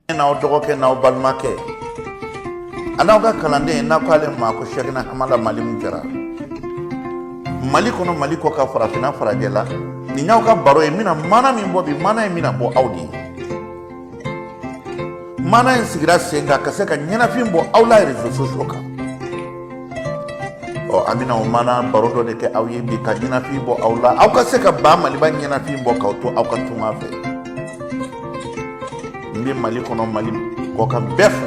n'aw dɔgɔkɛ n'aw balimakɛ an'aw ka kalanden n'a ko ale ma ko sɛkina amada mali min jara mali kɔnɔ mali kɔkan farafinna farajɛ la nin y'aw ka baro ye n bɛna mana min bɔ bi mana in bɛna bɔ aw de ye mana in sigira sen kan ka se ka ɲɛnafin bɔ aw la rezo sosiyo kan ɔ an bɛna o mana baro dɔ de kɛ aw ye bi ka ɲɛnafin bɔ aw la aw ka se ka ba maliba ɲɛnafin bɔ k'aw to aw ka tunga fɛ n bɛ mali kɔnɔ mali kɔkan bɛɛ fo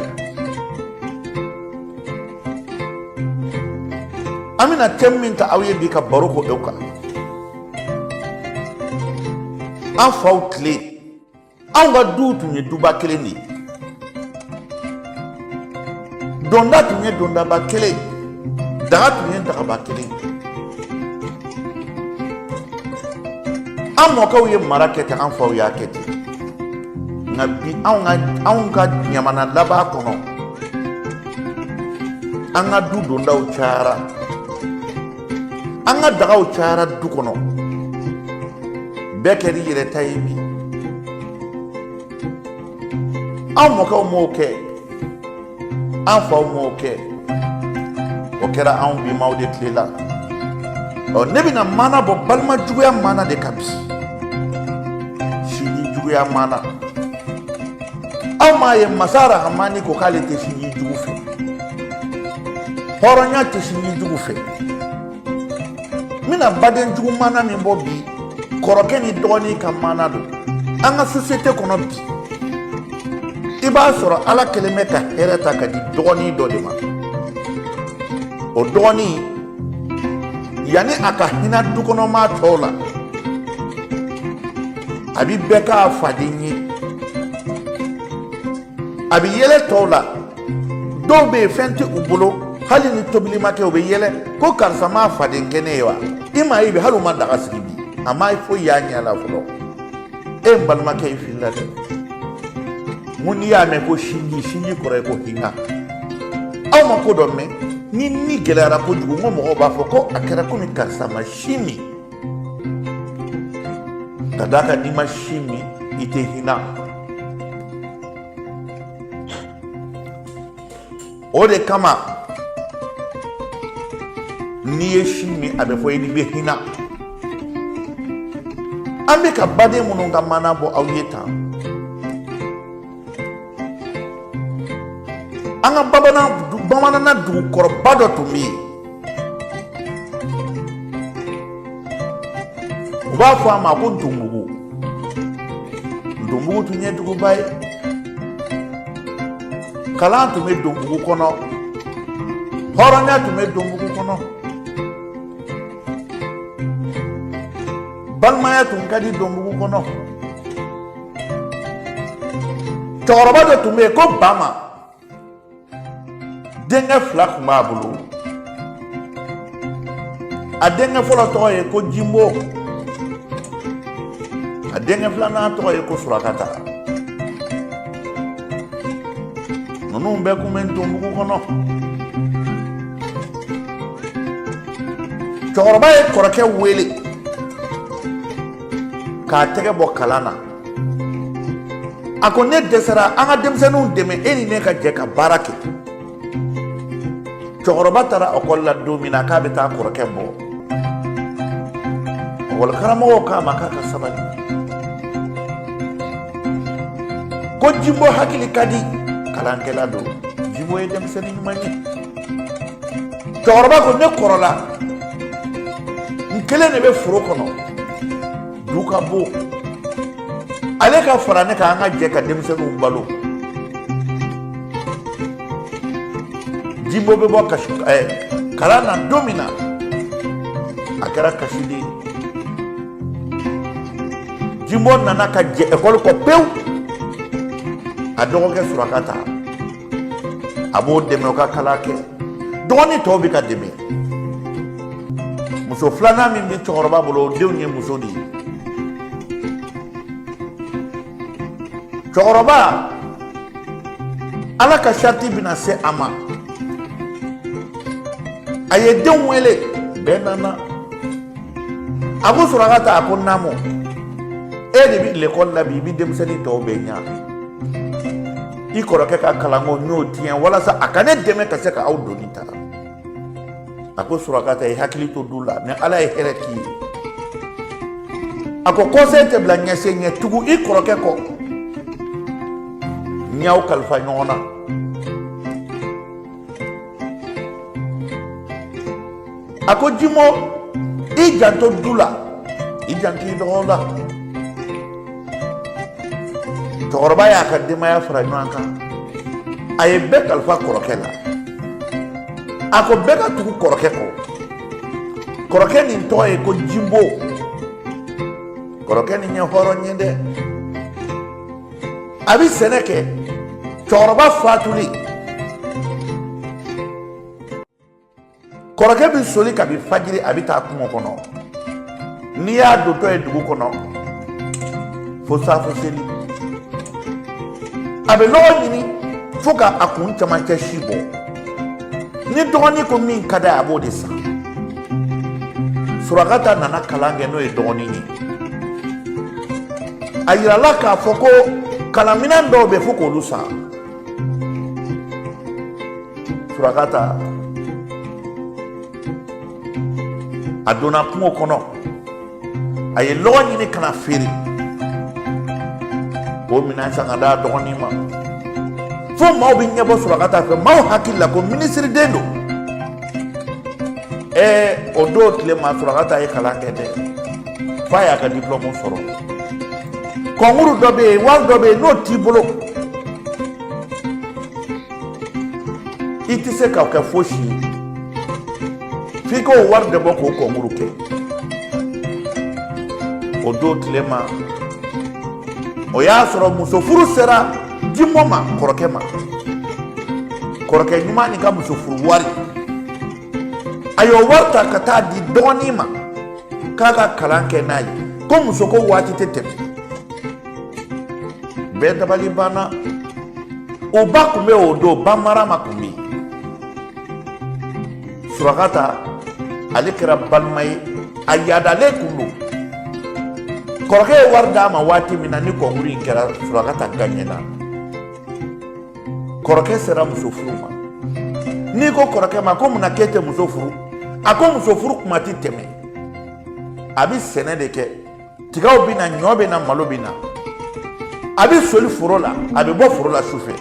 an bɛna tɛmu min ta aw ye bi ka baro k'o kan an faw tile anw ka duw tun ye duba kelen de ye donda tun ye dondaba kelen daga tun ye dagaba kelen an mɔkɛw ye mara kɛ ten an faw y'a kɛ ten nka bi anw ka ɲamana laban kɔnɔ an ka du dondaw cayara an ka dagaw cayara du kɔnɔ bɛɛ kɛr'i yɛrɛ ta ye bi an mɔkɛw m'o kɛ an faw m'o kɛ o kɛra anw bimaw de tile la ɔ ne bɛna mana bɔ balima juguya mana de kan bi sinji juguya mana aw m'a ye masa rahamani ko k'ale tɛ sinji jugu fɛ hɔrɔnya tɛ sinji jugu fɛ n bɛna baden jugu mana min bɔ bi kɔrɔkɛ ni dɔgɔnin ka mana don an ka sosiyete kɔnɔ bi i b'a sɔrɔ ala kelen bɛ ka hɛrɛ ta ka di dɔgɔnin dɔ de ma o dɔgɔnin yanni a ka hinɛ dukɔnɔmaa tɔw la a bi bɛɛ k'a faden ye a bɛ yɛlɛ tɔw la dɔw bɛ yen fɛn tɛ u bolo hali ni tobili ma kɛ u bɛ yɛlɛ ko karisa m'a faden kɛ ne ye wa i m'a ye bi hali u ma daga sigi bi a ma foyi y'a ɲɛ la fɔlɔ e n balimakɛ i filila dɛ mun n'i y'a mɛn ko sinji sinji kɔrɔ ye ko hinɛ aw ma ko dɔ mɛn ni ni gɛlɛyara kojugu n ko mɔgɔw b'a fɔ ko a kɛra komi karisa ma sin min ka d'a kan n'i ma sin min i tɛ hinɛ o de kama n'i ye sin min a bɛ fɔ i ni bɛ hinɛ an bɛ ka baden minnu ka mana bɔ aw ye tan an ka bamanan bamanana dugukɔrɔba dɔ tun bɛ yen u b'a fɔ a ma ko donbugu donbugu tun ye duguba ye kalan tun bɛ donbugu kɔnɔ hɔrɔnya tun bɛ donbugu kɔnɔ balimaya tun ka di donbugu kɔnɔ cɛkɔrɔba dɔ tun bɛ yen ko bama denkɛ fila tun b'a bolo a denkɛ fɔlɔ tɔgɔ ye ko jimbo a denkɛ filanan tɔgɔ ye ko surakata ninnu bɛɛ kun bɛ donbugu kɔnɔ cɛkɔrɔba ye kɔrɔkɛ wele k'a tɛgɛ bɔ kalan na a ko ne dɛsɛra an ka denmisɛnninw dɛmɛ e ni ne ka jɛ ka baara kɛ cɛkɔrɔba taara ekɔli la don min na k'a bɛ taa kɔrɔkɛ bɔ ekɔli karamɔgɔw k'a ma k'a ka sabali ko jimbo hakili ka di kalankɛla don jimbo ye denmisɛnnin ɲuman ye cɛkɔrɔba ko ne kɔrɔla n kelen de bɛ foro kɔnɔ du ka bon ale ka fara ne kan an ka jɛ ka denmisɛnninw balo jimbo bɛ bɔ kasi ɛɛ kalan na don min na a kɛra kasi de ye jimbo nana ka jɛ ekɔli kɔ pewu a dɔgɔkɛ surakata a b'o dɛmɛ o ka kalan kɛ dɔgɔnin tɔw bɛ ka dɛmɛ muso filanan min bɛ cɛkɔrɔba bolo o denw ye muso de ye cɛkɔrɔba ala ka sarati bɛna se a ma a ye denw wele bɛɛ nana a ko surakata a ko naamu e de bɛ lekɔli la bi i bɛ denmisɛnnin tɔw bɛɛ ɲɛ i kɔrɔkɛ ka kalanko n y'o tiɲɛ walasa a ka ne dɛmɛ ka se ka aw doni ta a ko surakata i hakili to du la ni ala ye hɛrɛ k'i ye a ko kɔsen tɛ bila ɲɛsen ɲɛ tugu i kɔrɔkɛ kɔ n y'aw kalifa ɲɔgɔn na a ko jimo i janto du la i janto i dɔgɔw la cɛkɔrɔba y'a ka denbaya fara ɲɔgɔn kan a ye bɛɛ kalifa kɔrɔkɛ la a ko bɛɛ ka tugu kɔrɔkɛ kɔ kɔrɔkɛ nin tɔgɔ ye ko jimbo kɔrɔkɛ nin ye hɔrɔn ye dɛ a bɛ sɛnɛ kɛ cɛkɔrɔba fatuli kɔrɔkɛ bɛ soli kabi fajiri a bɛ taa kungo kɔnɔ n'i y'a dotɔ ye dugu kɔnɔ fo saafo seli a bɛ lɔgɔ ɲini fo ka a kun camancɛ si bɔ ni dɔgɔnin ko min ka d'a ye a b'o de san surakata nana kalan kɛ n'o ye dɔgɔnin ye a yirala k'a fɔ ko kalanminɛn dɔw bɛ fo k'olu san surakata a donna kungo kɔnɔ a ye lɔgɔ ɲini ka na feere k'o minɛn san ka d'a dɔgɔnin ma fo maaw bɛ ɲɛbɔ surakata fɛ maaw hakili la ko minisiriden don ɛɛ o don tile ma surakata ye kalan kɛ dɛ f'a y'a ka diplɔmu sɔrɔ kɔnkuru dɔ bɛ yen wari dɔ bɛ yen n'o t'i bolo i tɛ se ka kɛ fosi ye f'i k'o wari de bɔ k'o kɔnkuru kɛ o don tile ma o y'a sɔrɔ muso furu sera jimo ma kɔrɔkɛ ma kɔrɔkɛ ɲuman nin ka muso furu wari a y'o wari ta ka taa di dɔgɔnin ma k'a ka kalan kɛ n'a ye ko muso ko waati tɛ tɛmɛ bɛɛ dabali banna o ba tun bɛ o don ba mara ma tun bɛ yen surakata ale kɛra balima ye a yaadalen tun don kɔrɔkɛ ye wari d'a ma waati min na ni kɔnkuru in kɛra surakata gaɲɛna kɔrɔkɛ sera muso furu ma n'i ko kɔrɔkɛ ma ko munna k'e tɛ muso furu a ko muso furu kuma tɛ tɛmɛ a bɛ sɛnɛ de kɛ tigaw bɛ na ɲɔ bɛ na malo bɛ na a bɛ soli foro la a bɛ bɔ foro la sufɛ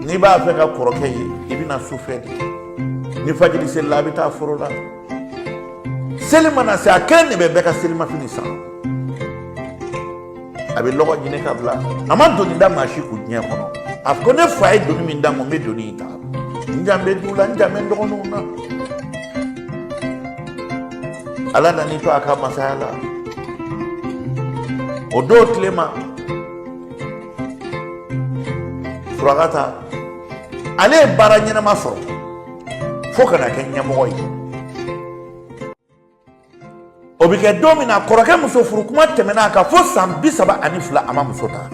n'i b'a fɛ ka kɔrɔkɛ ye i bɛ na sufɛ de ni fajiri selila a bɛ taa foro la seli mana se a kelen de bɛ bɛɛ ka selimafini san a bɛ lɔgɔ ɲini ka bila a ma doni da maa si kun diɲɛ kɔnɔ a ko ne fa ye doni min d'a ma n bɛ doni in ta n jan bɛ du la n jan bɛ n dɔgɔninw na ala nan'i to a ka masaya la o don tilema surakata ale ye baara ɲɛnama sɔrɔ fo ka na kɛ ɲɛmɔgɔ ye o bɛ kɛ don min na kɔrɔkɛ muso furu kuma tɛmɛna a kan fo san bi saba ani fila a ma muso ta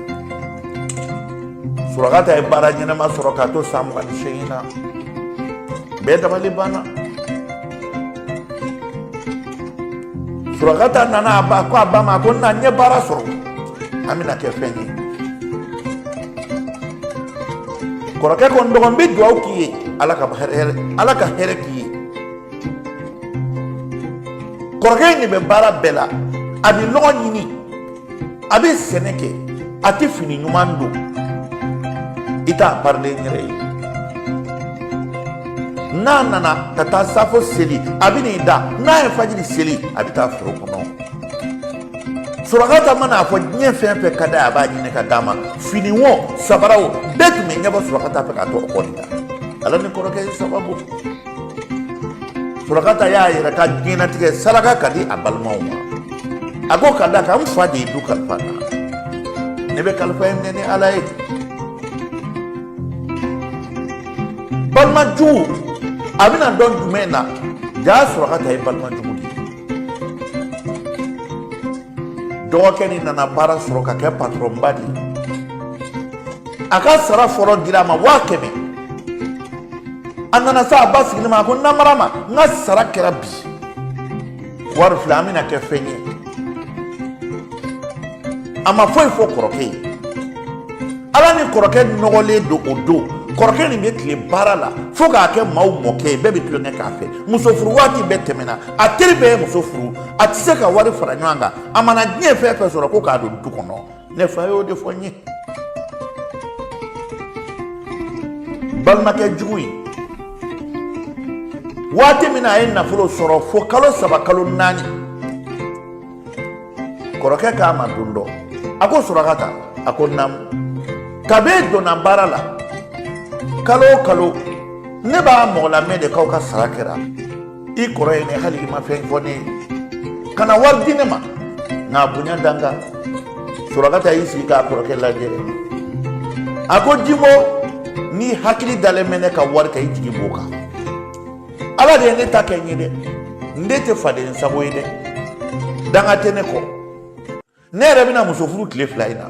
surakata ye baara ɲɛnama sɔrɔ k'a to san mugan ni seegin na bɛɛ dabali banna surakata nana a ko a ba ma ko na n ye baara sɔrɔ an bɛna kɛ fɛn ye kɔrɔkɛ ko n dɔgɔ n bɛ dugawu k'i ye ala ka hɛrɛ k'i ye kɔrɔkɛ in de bɛ baara bɛɛ la a bɛ lɔgɔ ɲini a bɛ sɛnɛ kɛ a tɛ fini ɲuman don i t'a parilen yɛrɛ ye n'a nana ka taa safo seli a bɛ n'i da n'a ye fajiri seli a bɛ taa foro kɔnɔ surakata mana a fɔ diɲɛ fɛn fɛn ka d'a ye a b'a ɲini ka d'a ma fini wo sabara wo bɛɛ tun bɛ ɲɛbɔ surakata fɛ k'a to o kɔni la ala ni kɔrɔkɛ ye sababu surakata y'a yɛrɛ ka diɲɛnatigɛ saraka ka di a balimaw ma a ko ka d'a kan n fa de ye du kalifa n na ne bɛ kalifa in minɛ ni ala ye balimajugu a bɛna dɔn jumɛn na jaa surakata ye balimajugu dɔgɔkɛ nin nana baara sɔrɔ ka kɛ patɔrɔnba de ye a ka sara fɔlɔ dira a ma waa kɛmɛ a nana se a ba sigilen ma a ko na marama n ka sara kɛra bi wari filɛ an bɛna kɛ fɛn ye a ma foyi fɔ kɔrɔkɛ ye ala ni kɔrɔkɛ nɔgɔlen don o don kɔrɔkɛ nin bɛ tile baara la fo k'a kɛ maaw mɔkɛ ye bɛɛ bɛ tulonkɛ k'a fɛ muso furu waati bɛɛ tɛmɛna a teri bɛɛ ye muso furu a tɛ se ka wari fara ɲɔgɔn kan a mana diɲɛ fɛn fɛn sɔrɔ ko k'a don du kɔnɔ ne fa y'o de fɔ n ye balimakɛ jugu in waati min na a ye nafolo sɔrɔ fo kalo saba kalo naani kɔrɔkɛ k'a ma don dɔ a ko surakata a ko naamu kabi e donna baara la kalo o kalo ne b'a mɔgɔ lamɛn de k'aw ka sara kɛra i kɔrɔ ye ne hali i ma fɛn fɔ ne ye kana wari di ne ma nka bonya da n kan surakata y'i sigi k'a kɔrɔkɛ lajɛ a ko jimo n'i hakili dalen bɛ ne ka wari kan i jigi b'o kan ala de ye ne ta kɛ n ye dɛ n de tɛ faden sago ye dɛ danga tɛ ne kɔ ne yɛrɛ bɛna muso furu tile fila in na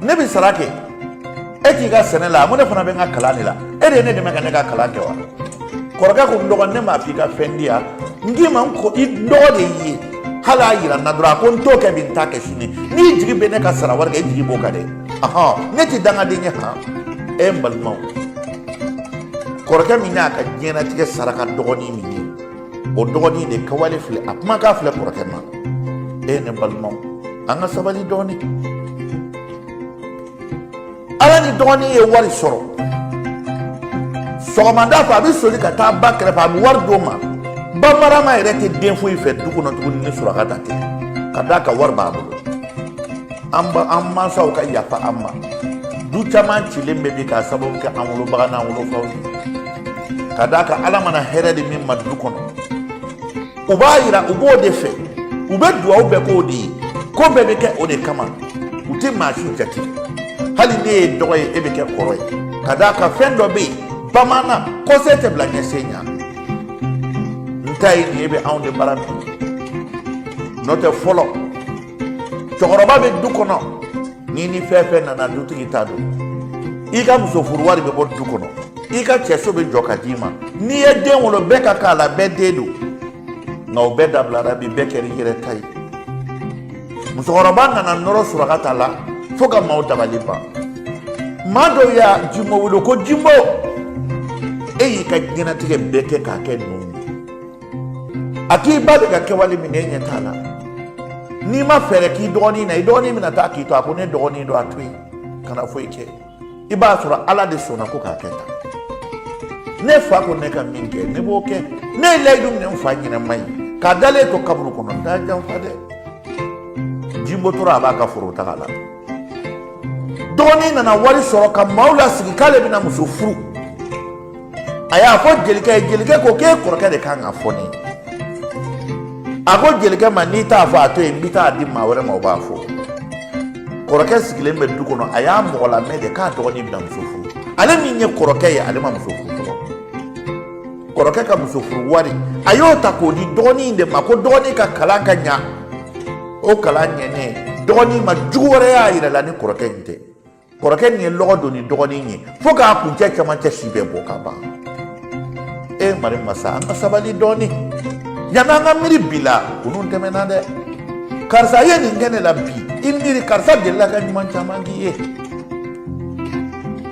ne bɛ sara kɛ e t'i ka sɛnɛ la ko ne fana bɛ n ka kalan de la e de ye ne dɛmɛ ka ne ka kalan kɛ wa kɔrɔkɛ ko n dɔgɔ ne m'a fɔ i ka fɛn di yan n k'i ma ko i dɔgɔ de y'i ye hali a yira n na dɔrɔn a ko n t'o kɛ bi n t'a kɛ sini n'i jigi bɛ ne ka sara wari kan i jigi b'o kan dɛ ahɔn ne tɛ dangaden ye han e n balimaw kɔrɔkɛ min y'a ka diɲɛnatigɛ saraka dɔgɔnin min ye o dɔgɔnin de kɛwale filɛ a kumakan filɛ kɔrɔkɛ ma e ne balimaw an ka sabali dɔɔnin ala ni dɔgɔnin ye wari sɔrɔ sɔgɔmada fɛ a bɛ soli ka taa ba kɛrɛfɛ a bɛ wari d'o ma ba marama yɛrɛ tɛ den foyi fɛ du kɔnɔ tuguni ni surakata tɛ ka d'a ka wari b'a bolo an ba an mansaw ka yafa an ma du caman cilen bɛ bi k'a sababu kɛ an wolobaga n'an wolofaw ye ka d'a kan ala mana hɛrɛ di min ma du kɔnɔ u b'a yira u b'o de fɛ u bɛ duwawu bɛɛ k'o de ye ko bɛɛ bɛ kɛ o de kama u tɛ maa si jate hali ne ye dɔgɔ ye e bɛ kɛ kɔrɔ ye ka d'a kan fɛn dɔ bɛ yen bamanan kɔsen tɛ bila ɲɛsen ɲa n ta ye nin ye bɛ anw de bara bi n'o tɛ fɔlɔ cɛkɔrɔba bɛ du kɔnɔ n'i ni fɛn fɛn nana dutigi ta don i ka muso furu wari bɛ bɔ du kɔnɔ i ka cɛso bɛ jɔ ka d'i ma n'i ye den wolo bɛɛ ka k'a la bɛɛ den don nka o bɛɛ dabilara bi bɛɛ kɛra i yɛrɛ ta ye musokɔrɔba nana nɔrɔ surakata la fo ka maaw dabali ban maa dɔw y'a jimbo wele ko jimbo e y'i ka diɲɛnatigɛ bɛɛ kɛ k'a kɛ ninnu a k'i ba bɛ ka kɛwale min ɲɛ t'a la n'i ma fɛɛrɛ k'i dɔgɔnin na i dɔgɔnin bɛna taa k'i to a ko ne dɔgɔnin don a to yen kana foyi kɛ i b'a sɔrɔ ala de sɔnna ko k'a kɛ tan ne fa ko ne ka min kɛ ne b'o kɛ ne ye layidu minɛ n fa ɲɛnama ye k'a dalen to kaburu kɔnɔ n t'a janfa dɛ jimbo tora a b'a ka foro taga la dɔgɔnin nana wari sɔrɔ ka maaw lasigi k'ale bɛna muso furu a y'a fɔ jelikɛ ye jelikɛ ko k'e kɔrɔkɛ de kan k'a fɔ ne ye a ko jelikɛ ma n'i t'a fɔ a to yen n bɛ t'a di maa wɛrɛ ma o b'a fɔ kɔrɔkɛ sigilen bɛ du kɔnɔ a y'a mɔgɔlamɛn de k'a dɔgɔnin bɛna muso furu ale min ye kɔrɔkɛ ye ale ma muso furu kɔrɔkɛ ka muso furu wari a y'o ta k'o di dɔgɔnin de ma ko dɔgɔnin ka kalan ka ɲa o kalan ɲɛnen dɔgɔnin ma jugu wɛrɛ y'a yɛrɛ la ni kɔrɔkɛ in tɛ kɔrɔkɛ nin ye lɔgɔ don ni dɔgɔnin ye fo k'a kuncɛ cɛmancɛ si bɛɛ bɔ ka ban e mari masa an ka sabali dɔɔni yanni an ka miiri bi la kunun tɛmɛna dɛ karisa ye nin kɛ ne la bi i miiri karisa delila ka ɲuman caman k'i ye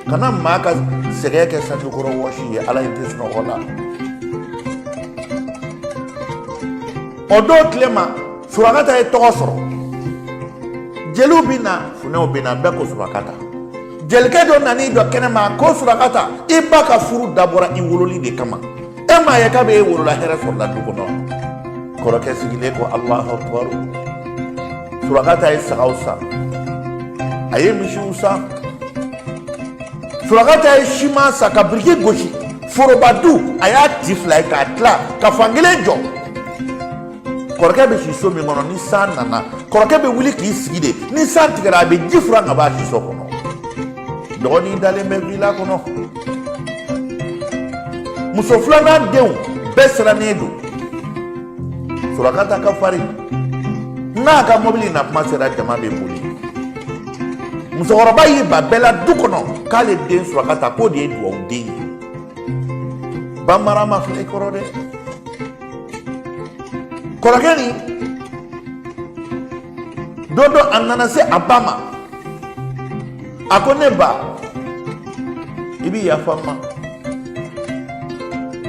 kana maa ka sɛgɛn kɛ sanjikɔrɔwɔsi ye ala ye tɛ sunɔgɔ la o don tile ma surakata ye tɔgɔ sɔrɔ jeliw bɛ na funɛw bɛ na bɛɛ ko surakata jelikɛ dɔ nana i jɔ kɛnɛma ko surakata i ba ka furu dabɔra i wololi de kama e m'a ye kabi e wolola hɛrɛ sɔrɔla du kɔnɔ kɔrɔkɛ sigilen ko alahu akibaru surakata ye sagaw san a ye misiw san surakata ye siman san ka biriki gosi foroba du a y'a ti fila ye k'a tila ka fankelen jɔ kɔrɔkɛ bɛ si so min kɔnɔ ni san nana kɔrɔkɛ bɛ wuli k'i sigi de ni san tigɛra a bɛ ji furan ka b'a siso kɔnɔ dɔgɔnin dalen bɛ wila kɔnɔ muso filanan denw bɛɛ sirannen don surakata ka farin n'a ka mɔbili na kuma sera jama bɛ boli musokɔrɔba y'i ban bɛɛ la du kɔnɔ k'ale den surakata k'o de ye dugawuden ye bamarama filɛ i kɔrɔ dɛ kɔrɔkɛ nin don dɔ a nana se a ba ma a ko ne ba i bi yafa n ma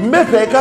n bɛ fɛ i ka